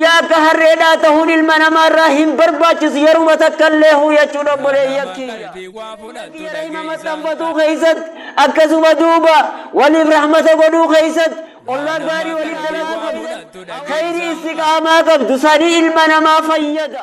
Guyyaa akka harreedhaa tahuun ilma namaa irraa hin barbaachisu yeruma takka illee huu jechuudha obboleeyyan kiyya. Kiyya rahima maxxanfatuu keessatti akkasuma duuba waliif rahmata godhuu keessatti ollaa gaarii waliif dalaguu keessatti khayrii istiqaamaa qabdu sanii ilma namaa fayyada.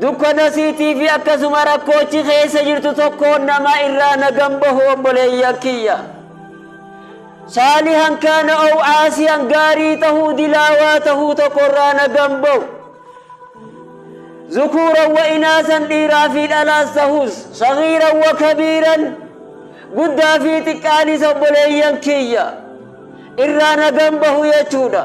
Dukkana siitii fi akkasuma rakkoochi keessa jirtu tokkoon namaa irraa nagan bahu obboleeyyan kiyya. Saalihan kaana ow aasiyan gaarii tahuu dilaawaa tahuu tokko irraa nagan bahu. Zukuuran wa inaasan dhiiraa fi dhalaas tahus sagiiran wa kabiiran guddaa fi xiqqaanis obboleeyyan kiyya irraa nagan bahu jechuudha.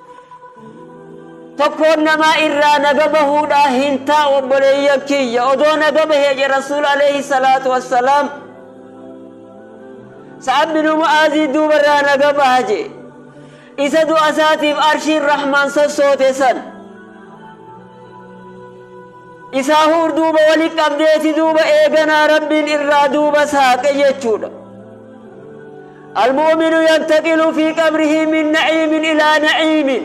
tokkoon namaa irraa naga bahuudhaa hin taa'u obboleeyya kiyya odoo naga bahee je rasuul alayhi salaatu wassalaam sa'ad bin mu'aazii duuba irraa naga baha je isa du'a isaatiif arshiin rahmaan sossoote san isaa huur duuba wali qabdeeti duuba eeganaa rabbiin irraa duuba saaqe jechuudha Al-mu'minu yantaqilu fii qabrihi min na'iimin ilaa na'iimin.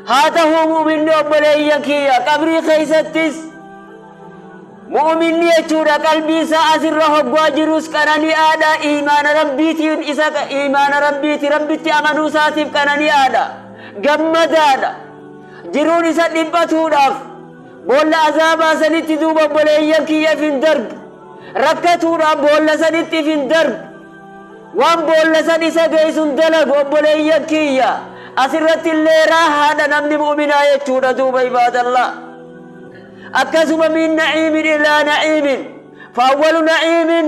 Haa tahuu mu'minni obboleeyyan kiyya qabrii keeysattis mu'minni jechuudha qalbii isaa asirra hoggaa jirus qanani'aadha iimaana Rabbiitiin isa iimaana Rabbiiti Rabbitti amanuu isaatiif qanani'aadha gammadaadha jiruun isa dhiphatuudhaaf boolla azaabaa sanitti duuba obboleeyyan kiyyaf hin darbu Rakkatuudhaan boolla sanitti if hin darbu. Waan boolla san isa geessu hin dalagu obboleeyyan kiyya. Asirratti illee raahaadha namni mu'minaa jechuudha duuba ibaadallah. Akkasuma min na'iimin ilaa na'iimin. Faawwalu na'iimin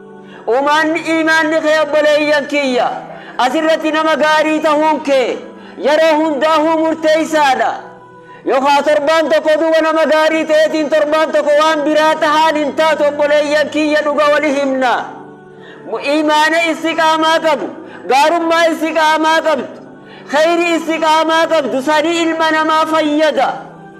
Umaanni iimaanni kee obboleeyyan kiyya asirratti nama gaarii tahuun kee yeroo hundaahuu murteeysaadha. Yokaa torbaan tokko duuba nama gaarii taheetiin torbaan tokko waan biraa tahaan hin taatu obboleeyyan kiyya dhuga wali himna. Iimaana istiqaamaa qabu, gaarummaa istiqaamaa qabdu, kheyri istiqaamaa qabdu sanii ilma namaa fayyada.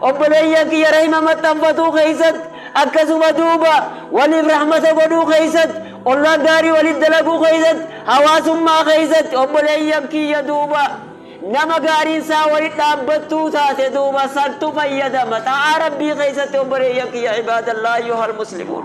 Obboleeyyan kiyya rahima maxxanfatuu keessatti, akkasuma duuba waliif rahmata godhuu keessatti, ollaa gaarii waliif dalaguu keessatti, hawaasummaa keessatti obboleeyyan kiyya duuba nama gaariin isaa walitti dhaabbattuu taate duuba santu fayyadama. Xaa'aa Rabbii keessatti obboleeyyan kiyya ibaadallaahi ayyuhal muslimuun.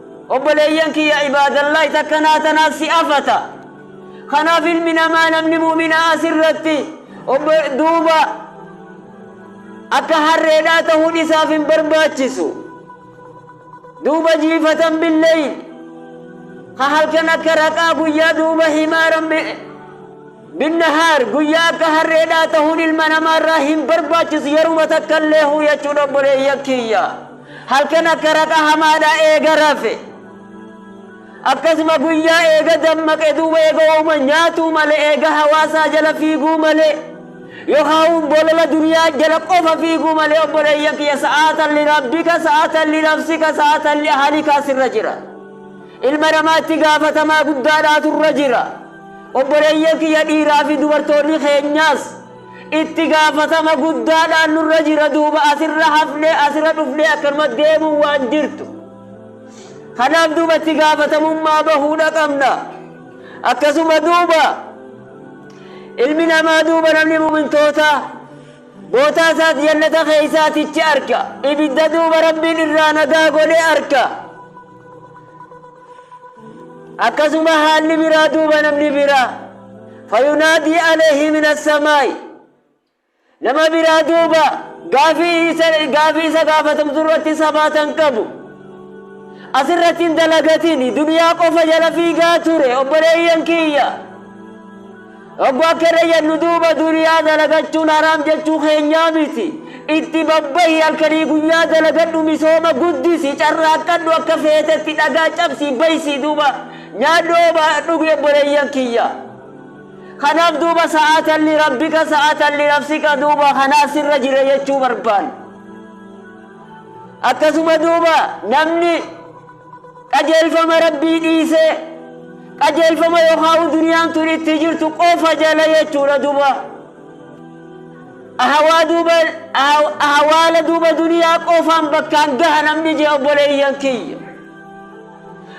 Obboleeyyan kiyya ibaadallaahi takka naa tanaaf si afata. Kanaaf ilmi namaa namni mu'minaa as irratti obbo duuba akka harreedhaa tahuun isaaf hin barbaachisu. Duuba jiifatan billeyl ka halkan akka raqaa guyyaa duuba himaaran Binnahaar, guyyaa akka harreedhaa tahuun ilma namaarraa hin barbaachisu yeruma takkalleehuu jechuudha obboleeyyan kiyya. Halkan akka raqa hamaadhaa eega rafe. Akkasuma guyyaa eega dammaqe duuba eega wauma nyaatuu malee eega hawaasaa jala fiiguu malee yookaan bolola duniyaa jala qofa fiiguu malee obboleeyyan kiyya sa'aatan li rabbika sa'aatan li nafsika sa'aatan li ahalikaa sirra jira. Ilma namaatti gaafatamaa guddaadhaatu irra jira. Obboleeyyan kiyya dhiiraa fi dubartoonni keenyaas itti gaafatama guddaadhaan nurra jira duuba asirra hafnee asirra dhufnee akkanuma deemuun waan jirtu. Kanaaf duuba itti gaafatamummaa bahuudha qabna. Akkasuma duuba ilmi namaa duuba namni mu'mintootaa bootaa isaas jannata keessaatichi arka. Ibidda duuba rabbiin irraa nagaa godhee arka. akkasuma haalli biraa duuba namni biraa fayunaadii aleehi min assamaa'i nama biraa duuba gaafii isa gaafii isa gaafatamtu irratti sabaatan qabu asirratti hin dalagatin duniyaa qofa jala fiigaa ture obboleeyyan kiyya Oggu akka irra jennu duuba duniyaa dalagachuun haraam jechuu keenyaa miti. Itti babbahi halkanii guyyaa dalagadhu misooma guddisi carraaqqadhu akka feetetti dhagaa cabsii baysii duuba nyaadhu ooba dhugi obboleeyyan kiyya. Kanaaf duuba sa'atan li rabbika sa'atan li nafsika duuba kanaa sirra jira jechuu barbaanna. Akkasuma duuba namni Qajeelfama Rabbii dhiisee qajeelfama yookaa'u duniyaan tun itti jirtu qofa jala jechuudha duba. Ahawaa duuba ahawaala duuba duniyaa qofaan bakkaan gaha namni jee obboleeyyan kiyya.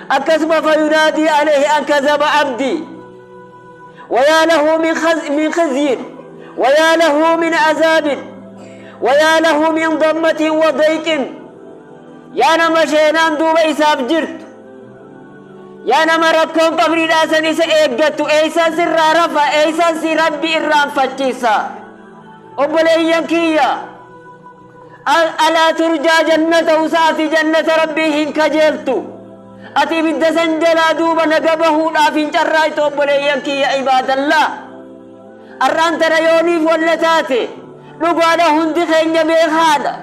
Akkasuma fayunaadii aleehi an kazaba abdii. Wayaa lahu min khaz- min khizyin wayaa lahu min azaabin wayaa lahu min dammatin wa dayqin. Yaa nama sheenaan duuba isaaf jirtu, yaa nama rakkoon qabriidhaa san isa eeggattu, eeysaan sirraa rafa, eeysaan si rabbi irraanfachiisa. Obboleeyyan kiyya, alaa turjaa jannata usa ati jannata rabbii hin kajeeltu. Ati ibidda san jalaa duuba naga bahuudhaaf hin carraaytu obboleeyyan kiyya ibaadallaa. Arraan tana yooniif walla taate, dhugaadha hundi keenya beekaadha.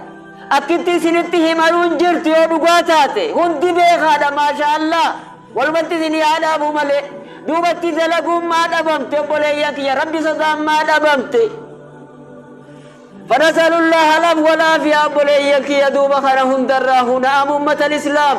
Akkitti isinitti himanuun jirtu yoo dhugaa taate hundi beekaadha maashaa allaah walumatti isinii haa dhaabu malee duubatti dalaguun maa dhabamte obboleeyyan kiyya rabbi sodaan maa dhabamte fanasalullaah alaf walaafiyaa obboleeyyan kiyya duuba kana hundarraa huna'amu ummatan islaam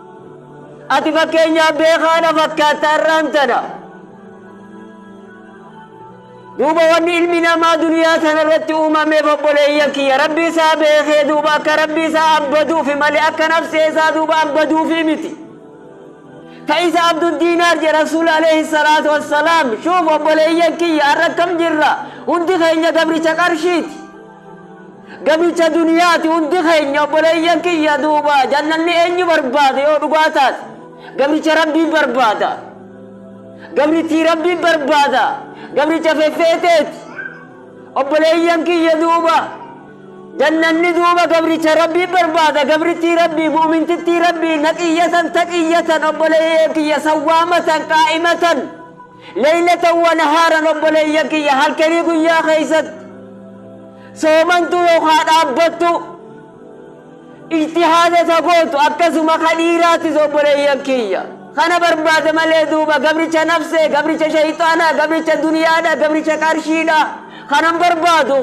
Ati fakkeenyaaf beekaa na fakkaatta har'aan tana. Duuba wanni ilmi namaa duniyaa tanarratti uumameef obboleeyyan kiyya rabbi isaa beekee duuba akka rabbi isaa abbaduufi malee akka nafsee isaa duuba abbaduufi miti. Ka isa abdu diinaar jedhe rasuul alayhi salaatu wassalaam shuuf obboleeyyan kiyya har'a akkam jirra hundi keenya gabricha qarshiiti. Gabicha duniyaati hundi keenya obboleeyyan kiyya duuba jannanni eenyu barbaada yoo dhugaa taate gabricha rabbii barbaada gabrittii rabbii barbaada gabricha feffeeteeti obboleeyyan kiyya duuba jannanni duuba gabricha rabbii barbaada gabrittii rabbii mu'mintittii rabbii naqiyyatan taqiyyatan obboleeyyan kiyya sawwaamatan qaa'imatan Laylatan wa nahaaran obboleeyyan kiyya halkanii guyyaa keessatti soomantuu yookaa dhaabbattuu ijtihaada ta gootu akkasuma ka dhiiraattis obboleeyyan kiyya kana barbaada malee duuba gabricha nafsee gabricha shayxaanaa gabricha duniyaadha gabricha qarshiidha kanan barbaadu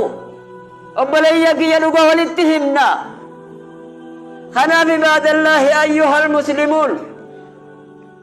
obboleeyyan kiyya dhuga walitti himna kanaaf ibaadallaahi ayyuhal muslimuun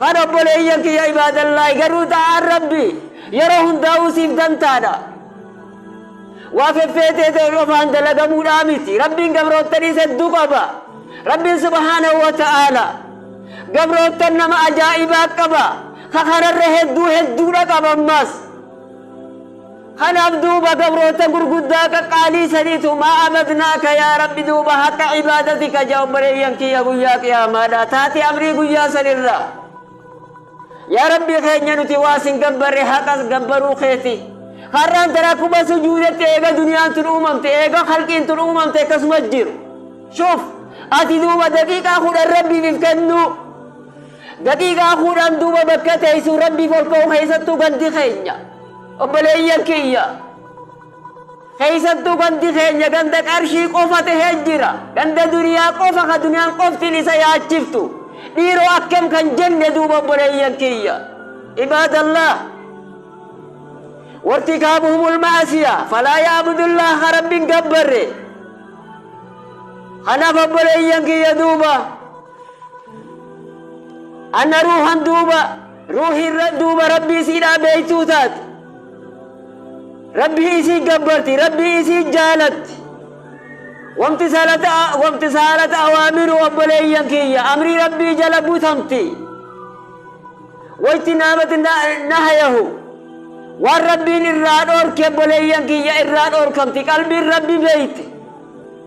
Kan obboleeyyan kiyya ibaadallaahi garuu xaa'aan Rabbii yeroo hundaa'uu siif dantaadha. Waa feffeetee ta'e qofaan dalagamuudhaa miti. Rabbiin gabroottaniis hedduu qaba. Rabbiin subhaanahu wa ta'aala gabroottan nama ajaa'ibaa qaba. Ka kanarra hedduu hedduudha qaba ammaas. Kanaaf duuba gabroota gurguddaa qaqqaalii saniitu maa abadnaaka yaa Rabbi duuba haqqa ibaadati ka ja obboleeyyan kiyya guyyaa qiyaamaadhaa taate amrii guyyaa san irraa yaa Rabbi keenya nuti waa sin gabbarre haqa gabbaruu keeti har'aan tana akkuma sujuudetti eega duniyaan tun uumamte eega halqiin tun uumamte akkasuma jiru shuuf ati duuba daqiiqaa kudhan rabbiif if kennuu Daqiiqaa kuudhaan duuba bakka teeysu Rabbiif ol ka'u keeysattuu gandi keenya obboleeyyan kiyya keeysattuu gandi keenya ganda qarshii qofa tahee jira ganda duniyaa qofa ka duniyaan qoftiin isa yaachiftu dhiiroo akkam kan jenne duuba obboleeyyan kiyya ibaadallah wartikaabuhumul ma'asiya falaa ya'budullaah ka Rabbiin gabbarre kanaaf obboleeyyan kiyya duuba anna ruuhan duuba ruuhiin ra- duuba rabbii isiidhaa beeytuu taate rabbii isii gabbarti rabbii isii jaalatti wamti salata wamti saalata awaamiru obboleeyyan kiyya amrii rabbii jala butamti wayti naamati nahayahu waan rabbiin irraa dhoorke obboleeyyan kiyya irraa dhoorkamti qalbiin rabbi beeyte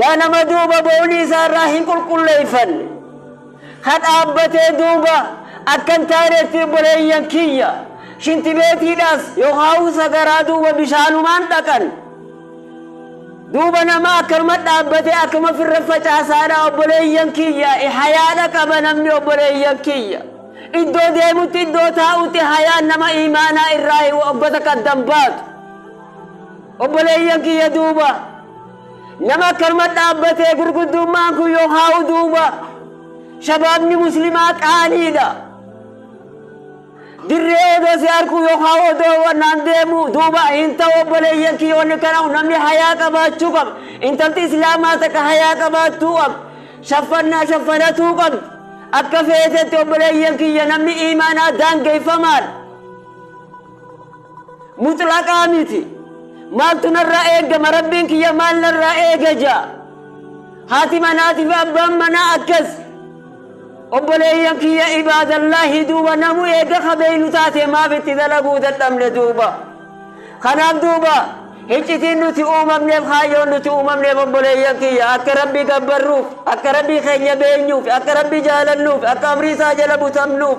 Yaa nama duuba boolii isaa irraa hin qulqulleeffanne, ka dhaabbatee duuba akka hin taanetti obboleeyyan kiyya, shintibeetiidhaas yookaan sagaraa duuba bishaanumaan dhaqan. Duuba nama akkanuma dhaabbatee akkuma firra facaasaadha obboleeyyan kiyya, hayaadha qaba namni obboleeyyan kiyya. Iddoo deemutti iddoo taa'utti hayaan nama imaanaa irraa wagga takka addan baatu. Obboleeyyan kiyya duuba nama akkanuma dhaabbatee gurguddummaan kun yoo kaa'u duuba shabaabni muslimaa qaaniidha. Dirree odoo si harkuu yoo kaa'u odoo wannaan deemu duuba hin ta'u obboleeyyan kiyya wanni kana namni hayaa qabaachuu qaba. Intalti islaamaa takka hayaa qabaattuu qaba. Shaffannaa shaffanatuu qabdi. Akka feetetti obboleeyyan kiyya namni iimaanaa daangeffamaadha. mutlaqaa miti maaltu narraa eegama rabbiin kiyya maal narraa eega jaa haati manaatiif abbaan manaa akkas obboleeyyan kiyya ibaadallaahi duuba namu eega kabeeynu taate maaf itti dalaguu dadhabne duuba kanaaf duuba hiccitiin nuti uumamneef kaayyoon nuti uumamneef obboleeyyan kiyya akka rabbii gabbarruuf akka rabbii keenya beenyuuf akka rabbii jaalannuuf akka amrii isaa jala butamnuuf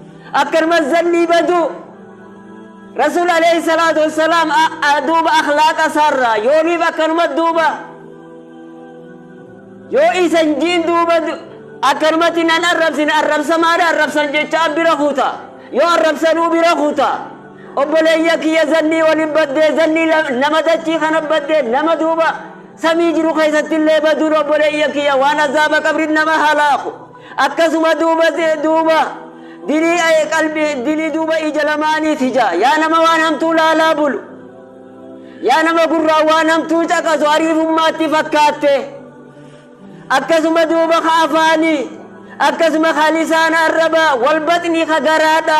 akkanumas zannii baduu rasuul alayhi salaatu wassalaam a- a- duuba akhlaaqa isaarraa yooniif akkanuma duuba yoo isan jiin duuba du- akkanumatti nan arrabsine arrabsamaadha arrabsan jechaa bira kuta yoo arrabsanuu bira kuta obboleeyya kiyya zannii waliin baddee zannii la- nama dachii kana baddee nama duuba samii jiru keessatti illee baduun obboleeyya kiyya waan azaaba qabrin nama halaaku Akkasuma duuba duuba dilii aye qalbi dilii duuba ija lamaaniit hija yaa nama waan hamtuu laalaa bulu yaa nama gurraa waan hamtuu caqasu ariifummaatti fakkaatte akkasuma duuba ka afaanii akkasuma ka lisaana arraba wal baxni ka garaadha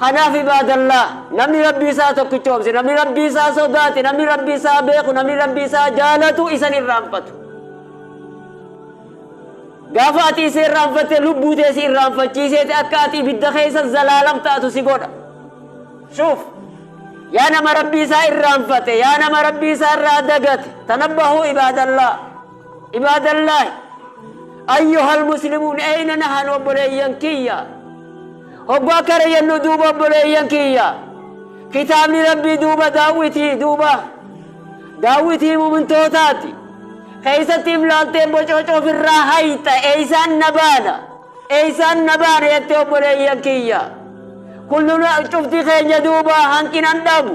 Kanaaf ibaadallaah, namni Rabbii isaa tokkichoomse, namni Rabbii isaa sodaate, namni Rabbii isaa beeku, namni Rabbii isaa jaalatu isan irraanfatu. Gaafa ati isa irraanfatte lubbuu tee si irraanfachiiseeti akka ati ibidda keessa zalaalam taatu si godha. Shuuf! Yaa nama Rabbii isaa irraanfate, yaa nama Rabbii isaa irraa dagate, tanabbahuu ibaadallaah. Ibaadallaahi! Ayyuhal muslimuun eeyna nahan obboleeyyan kiyya. Hogguu akkana jennu duuba obboleeyyan kiyya, kitaabni Rabbii duuba daawwitii duuba daawwitii mu'mintootaati. Keessatti if laaltee bococo ofirraa hayxa eeysaan na baana eeysaan na baana jettee obboleeyyan kiyya. Kulluna cufti keenya duuba hanqinan dhabu.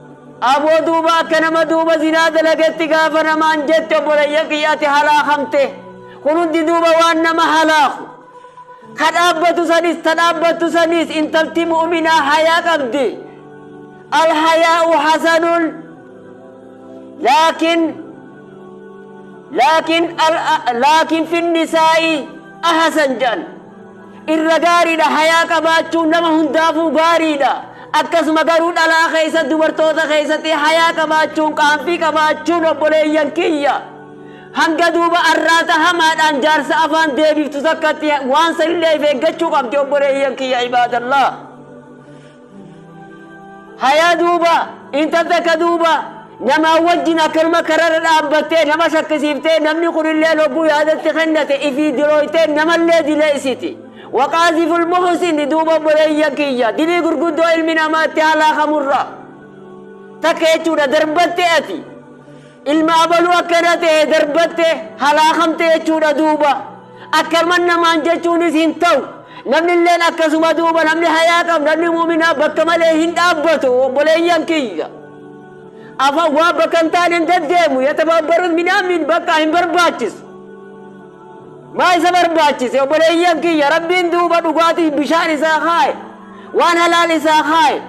Aboo duuba akka nama duuba zinaa dalagetti gaafa namaan jette obboleeyyan kiyya ati halaakamte kun hundi duuba waan nama halaaku ka dhaabbatu sanis ta dhaabbattu saniis intalti mu'uminaa hayaa qabdi alhayaa'u hasanun laakin laakin laakin finnisaa'i ahasan jedhan Irra gaariidha hayaa qabaachuun nama hundaafuu gaariidha akkasuma garuu dhalaa keessatti dubartoota keessatti hayaa qabaachuun qaanfii qabaachuun obboleeyyan kiyya hanga duuba arraata hamaadhaan jaarsa afaan deebiftu takkatti waan sanillee if eeggachuu qabdi obboleeyyan kiyya ibaadallah Hayaa duuba intal takka duuba namaa wajjin akkanuma kararra dhaabbattee nama shakkisiiftee namni kunillee logguu yaadatti kennate ifii dilooytee namallee dileessiti. Waqaaziful muhsin duuba obboleeyyan kiyya dilii gurguddoo ilmi namaa itti halaakamurra takka jechuudha darbatte ati. Ilma abaluu akkana ta'e darbatte halaakamte jechuudha duuba. Akkaman namaan jechuunis hin ta'u. Namni illeen akkasuma duuba namni hayaa qabu namni muuminaa bakka malee hin dhaabbatu obboleeyyan kiyya. Afaan waa bakka hin taane hin deddeemu yatabaabbarus midhaamiin bakka hin barbaachisu. Maa isa barbaachise obboleeyyan kiyya rabbiin duuba dhugaatii bishaan isaa kaaye waan halaal isaa kaaye.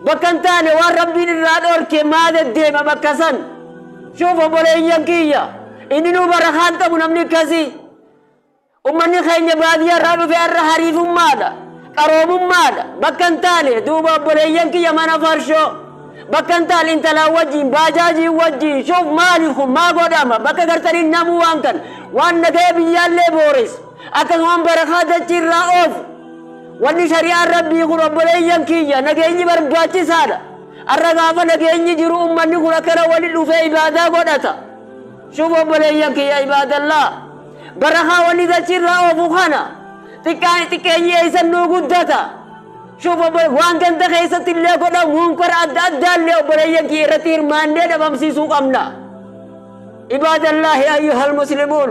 Bakka hin taane waan Rabbiin irraa dhoorke maa deddeema bakka san? Shuuf obboleeyyan kiyya inninuu barakaan qabu namni akkasii. Ummanni keenya baadiyyaa irraa dhufe har'a hariifummaadha. Qaroomummaadha. Bakka hin taane duuba obboleeyyan kiyya mana farshoo. Bakka hin taane intalaan wajjin baajaajiin wajjin shuuf maali kun maa godhama bakka gartaniin namuu waan kan waan nagaya biyyaallee booreessu akkasumaan barakaa dachiirraa oofu. Wanni shari'aan Rabbii kun obboleeyyan kiyya nageenyi barbaachisaadha. Arra gaafa nageenyi jiru ummanni kun akkana wali dhufee ibaadaa godhata. Shuuf obboleeyyan kiyya ibaadallaa. Barakaa wanni dachiirraa oofu kana. Xiqqaa xiqqeenyi eeysan nuu guddata. Shuuf obbole waan ganda keessatti illee godhamu munkara adda addaa illee obboleeyyan kiyya irratti hirmaannee dhabamsiisuu qabna. Ibaadallaahi ayyuhal muslimuun.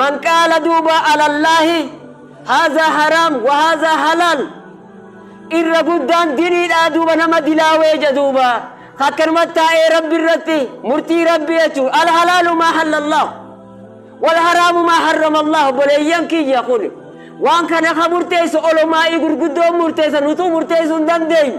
Man qaala duuba alallaahi haazaa haraam wa haazaa halaal irra guddaan diniidhaa duuba nama dilaawee ja duuba akkanumatti taa'ee rabbi irratti murtii rabbi jechuun alhalaalu maa hallallahu wal haraamu maa harramallahu obboleeyyan kiyya kun waan kana ka murteessu olomaa'ii gurguddoon murteessan utuu murteessuu hin dandeenye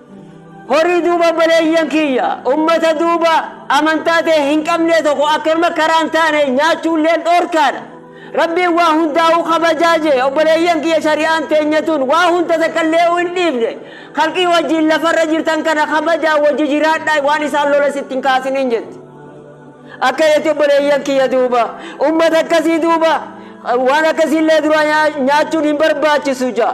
Horii duuba obboleeyyan kiyya ummata duuba amantaa ta'e hin qabnee tokko akkanuma karaan taane nyaachuulleen dhoorkaadha. Rabbiin waa hundaa'uu kabajaa jee obboleeyyan kiyya shari'aan teenya tun waa hunda takkallee'uu hin dhiifne. Khalqii wajjiin lafarra jirtan kana kabajaan wajji jiraadhaa waan isaan loles itti hin kaasiniin jetti. Akka jetti obboleeyyan kiyya duuba ummata akkasii duuba waan akkasiillee duraa nyaachuun hin barbaachisu ja'a.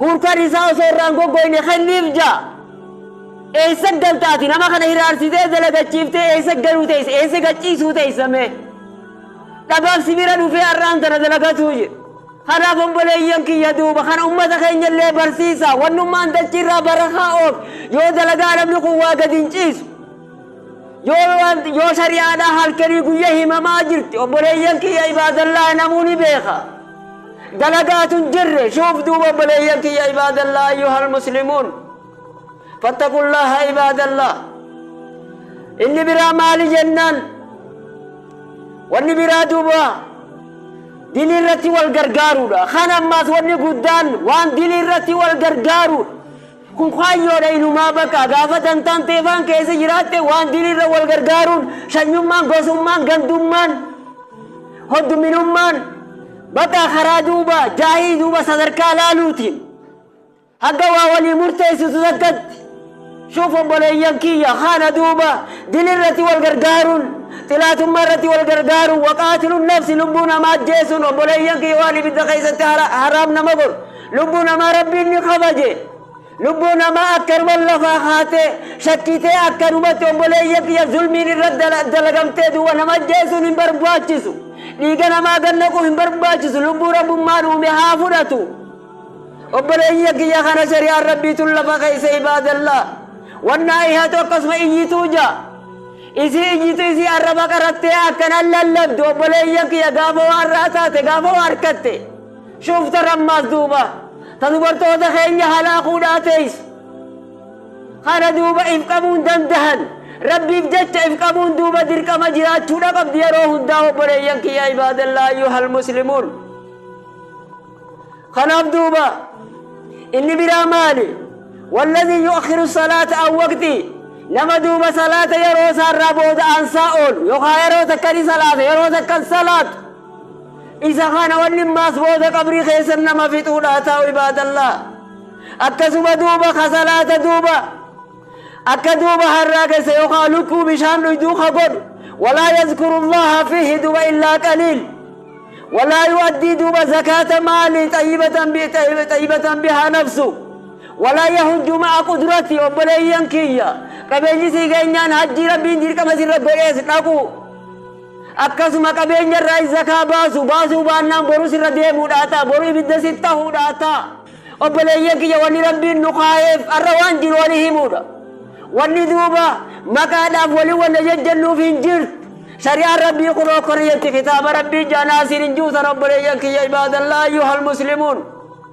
Hurkan isaa osoo irraa hin goggoyne kenniif ja. Eessa galta ati nama kana hiraarsitee dalagachiiftee eessa galuu teessa eessa gachiisuu teessa mee. Dhabaaf si bira dhufee har'aan tana dalagatuu jira. Kanaaf obboleeyyan kiyya duuba kana ummata keenya illee barsiisa wannummaan dachiirraa barakaa oof yoo dalagaa namni kun waa gadi hin ciisu. Yoo waan- yoo shari'aadhaa halkanii guyya himamaa jirti obboleeyyan kiyya ibaadallaahi namuu ni beeka dalagaatu hin jirre shuuf duuba obboleeyyan kiyya ibaadallaa ayyuhal muslimuun fattaqullaaha ibaadallaa inni biraa maali jennaan wanni biraa duuba dilii irratti wal gargaaruudha kan ammaas wanni guddaan waan dilii irratti wal gargaaruudha Kun kaayyoodha inumaa bakka gaafa dantaan teefaan keessa jiraatte waan diriirra wal gargaaruun sanyummaan gosummaan gandummaan hodduminummaan bakka karaa duuba jaahii duuba sadarkaa laaluutiin hagga waa walii murteessitu takkatti shuuf obboleeyyan kiyya kaana duuba dilirratti wal gargaaruun xilaatummaa irratti wal gargaaruun waqaatiluun nafsi lubbuu namaa ajjeesuun obboleeyyan kiyya waan ibidda keessatti haraam nama godhu Lubbuu namaa Rabbiin ni kabaje. Lubbuu namaa akkanuman lafaa kaatee shakkitee akkanumatti obboleeyya kiyya zulmiin irra dala- dalagamtee duuba nama ajjeesuun hin barbaachisu. Dhiiga namaa gad naquu hin barbaachisu. Lubbuu rabbummaan uume haa fudhatu. Obboleeyya kiyya kana shari'aan rabbiitun lafa keessa ibaadallaa. Wannaa ihatu akkasuma iyyituu jaa. Isii iyyitu isii arraba qarattee akkanan lallabdu obboleeyya kiyya gaafa waan irraa taate gaafa waa harkatte. Shuftan ammaas duuba ta dubartoota keenya halaakuudhaa teeysu kana duuba if qabuun dandahan Rabbiif jecha if qabuun duuba dirqama jiraachuudha qabdi yeroo hundaa obboleeyyan kiyya ibaadallaa ayyuhal muslimuun kanaaf duuba inni biraa maali walladii yu'akhiru salaata an waqtii nama duuba salaata yeroo isaarraa booda aansaa oolu yookaan yeroo takka ni salaata yeroo takka hin salaatu Isa kana wanni maas booda qabrii keessa nama fixuudha ta'u ibaadallaa. Akkasuma duuba ka salaata duuba akka duuba harraa keessa yookaan lukkuu bishaan dhuyduu ka godhu walaa yazkurullaha fihi duuba illaa qaliil. Walaa yu'addii duuba zakaata maalii xayyibatan bi- xayyi- xayyibatan bihaa nafsu. Walaa yahujju ma'a qudrati obboleeyyan kiyya. Qabeenyi sii keenyaan hajjii rabbiin dirqama sirra godhees dhaqu. Akkasuma qabeenya irraayis zakaa baasu, baasuu baannaan boru sirra deemuudhaa ta'a, boru ibidda siif tahuudhaa ta'a. Obboleeyyan kiyya wanni Rabbiin nu kaayeef har'a waan jiru wali himuudha. Wanni duuba maqaadhaaf wali walla jajjannuuf hin jirtu. Shari'aan Rabbii kunoo akkana jetti kitaaba Rabbii jaanaa siin hin jiru tana obboleeyyan kiyya ibaadallaa ayyuhal muslimuun.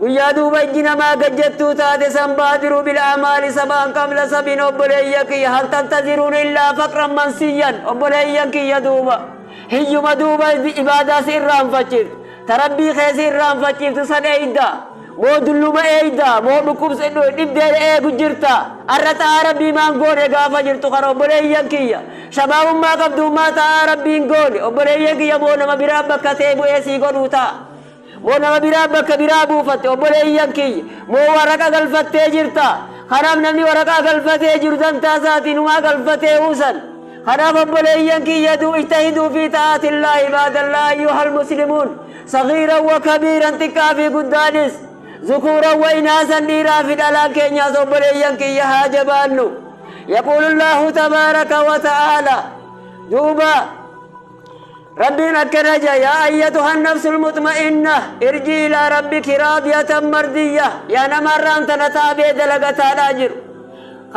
Guyyaa duuba ijji namaa gad jettuu taate san baadiru bil amaali sabaan qabla sabin obboleeyya kiyya hal tantaziruun illaa faqran mansiyyan obboleeyyan kiyya duuba hiyyuma duuba ibaadaa si irraanfachiiftu ta rabbii kee si irraanfachiiftu san eeyda moo dulluma eeyda moo dhukkubs dhibdeen eegu jirta arra xa'aa rabbii maan goone gaafa jirtu kana obboleeyyan kiyya shabaabummaa qabduummaa xa'aa rabbiin goone obboleeyyan kiyya moo nama biraa bakka tee bu'ee sii godhuu ta'a Moo nama biraa bakka biraa buufatte? Obboleeyyan kiyya! Moo waraqa galfattee jirta? Kanaaf namni waraqaa galfatee jiru dantaa isaatii numaa galfatee uusan. Kanaaf obboleeyyan kiyya du ijtahiduu fi ta'aatillaa ibaadallaa ayyuhal muslimuun sagiiran wa kabiiran xiqqaa fi guddaanis zukuuran wa inaasan dhiiraa fi dhalaan keenyaas obboleeyyan kiyya haa jabaannu. Yaquulullaahu tabaaraka wa ta'aala duuba Rabbiin akkana jedha yaa ayyatuhan nafsul mutma'inna irji ilaa rabbiki raadiyatan mardiyya yaa nama irraan tana taabee dalagataadhaa jiru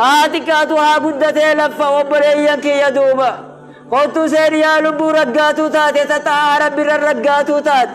haa xiqqaatu haa guddatee laffa obboleeyyan kiyya duuba kottuu seeni yaa lubbuu raggaatuu taate ta xaa'aa rabbirra raggaatuu taate